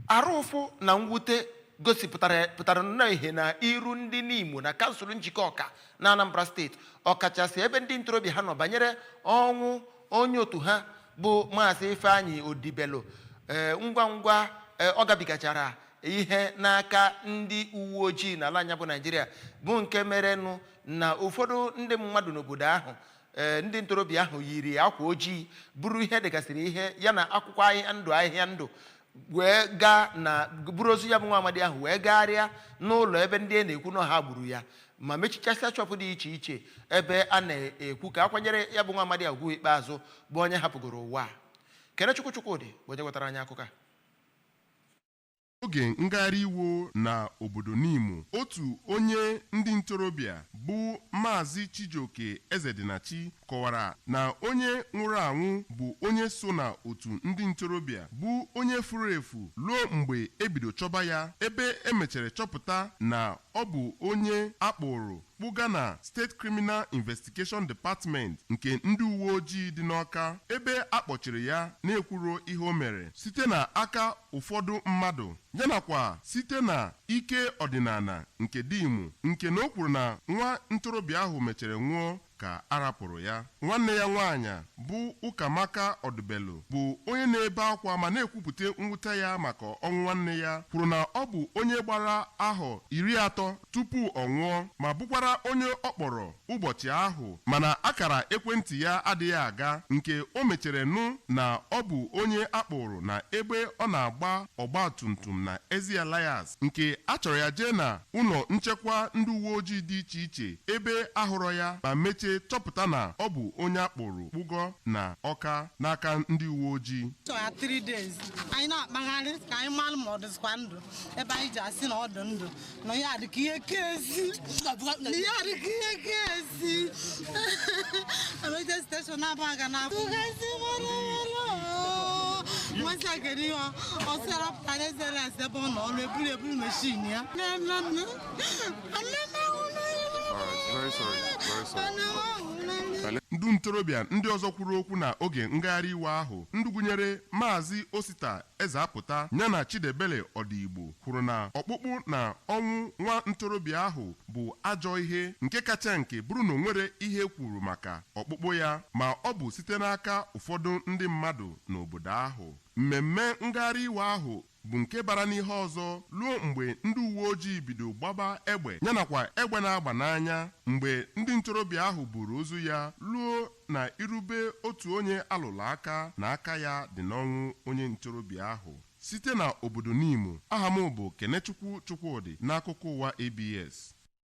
Arụ ụfụ na mwute gosipụtara pụtara nnọọ ihe na iru ndị Nimo na kansụl Njikọka na Anambra steeti ọkachasị ebe ndị ntorobịa ha nọ banyere ọnwụ onye otu ha bụ Maazị Ifeanyi Odibelu ee ngwa ngwa ee, ọ gabigachara ihe n'aka ndị uwe ojii n'ala anyị bụ Naijiria bụ nke merenụ na ụfọdụ ndị mmadụ n'obodo ahụ ee ndị ntorobịa ahụ yiri akwa ojii buru ihe degasịrị ihe ya na akwụkwọ ahịhịa ndụ ahịhịa ndụ wee gaa na buru ozu ya bụ nwa amadi ahụ wee gagharịa n'ụlọ ebe ndị a na-ekwu na ha gburu ya ma mechichasịa shọpụ dị iche iche ebe a na-ekwu ka a kwanyere ya bụ nwa amadi ugwu ikpeazụ bụ onye hapụgoro ụwa a. Kenechukwu Chukwudị bụ onye wetara anyị akụkọ a Oge ngagharị iwe na obodo Nimo, otu onye ndị ntorobịa bụ Maazị Chijioke Ezedinachi kọwara na onye nwụrụ anwụ bụ onye so na otu ndị ntorobịa bụ onye furu efu ruo mgbe e bido chọba ya ebe e mechere chọpụta na ọ bụ onye a kpụụrụ kpụga na State Criminal Investigation Department nke ndị uweojii dị n'Ọka ebe a kpọchiri ya na-ekwuro ihe o mere site na aka ụfọdụ mmadụ yanakwa site na ike ọdịnala nke Nimo nke na o kwuru na nwa ntorobịa ahụ mechere nwụọ ka a rapụrụ ya. Nwanne ya nwaanyị bụ Ukamaka Odibelu bụ onye na-ebe akwa ma na-ekwupụta mwute ya maka ọnwụ nwanne ya kwuru na ọ bụ onye gbara ahọ iri atọ tupu ọ nwụọ ma bụkwara onye ọ kpọrọ ụbọchị ahụ mana akara ekwentị ya adịghị aga nke o mechere nụ na ọ bụ onye a kpụụrụ na ebe ọ na-agba ọgbatumtum na Ezi Elias nke a chọrọ ya jee na ụlọ nchekwa ndị uweojii dị iche iche ebe a hụrọ ya ma mechee chọpụta na ọ bụ onye a kpụụrụ kpụgo na Ọka n'aka ndị uweojii. Chọrọ ya three days anyị na-akpagharị ka anyị mara ma ọ dịzikwa ndụ ebe anyị ji asị na ọ dị ndụ na ya dị ka ihe kezi na ya dị ka ihe kezi emeje steshọn Abagana tụgazi nwansi a kere ihe ọ sịara pụta na Ezi Elias ebe ọ nọ ọrụ eburu eburu meshin ya ndị ntorobịa ndị ọzọ kwuru okwu na oge ngagharị iwe ahụ ndị gụnyere Maazị Osita Ezeapụta ya na Chidebele Odigbo kwuru na ọkpụkpụ na ọnwụ nwa ntorobịa ahụ bụ ajọ ihe nke kacha nke bụrụ na o nwere ihe e kwuru maka ọkpụkpụ ya ma ọ bụ site n'aka ụfọdụ ndị mmadụ n'obodo ahụ. Mmemme ngagharị iwe ahụ bụ nke bara n'ihe ọzọ ruo mgbe ndị uweojii bido gbaba egbe ya nakwa egbe na-agba n'anya mgbe ndị ntorobịa ahụ buuru ozu ya ruo na iru be otu onye a lụrụ aka na aka ya dị n'ọnwụ onye ntorobịa ahụ. Site na obodo Nimo, aha m bụ Kenechukwu Chukwudị n'akụkọ ụwa ABS.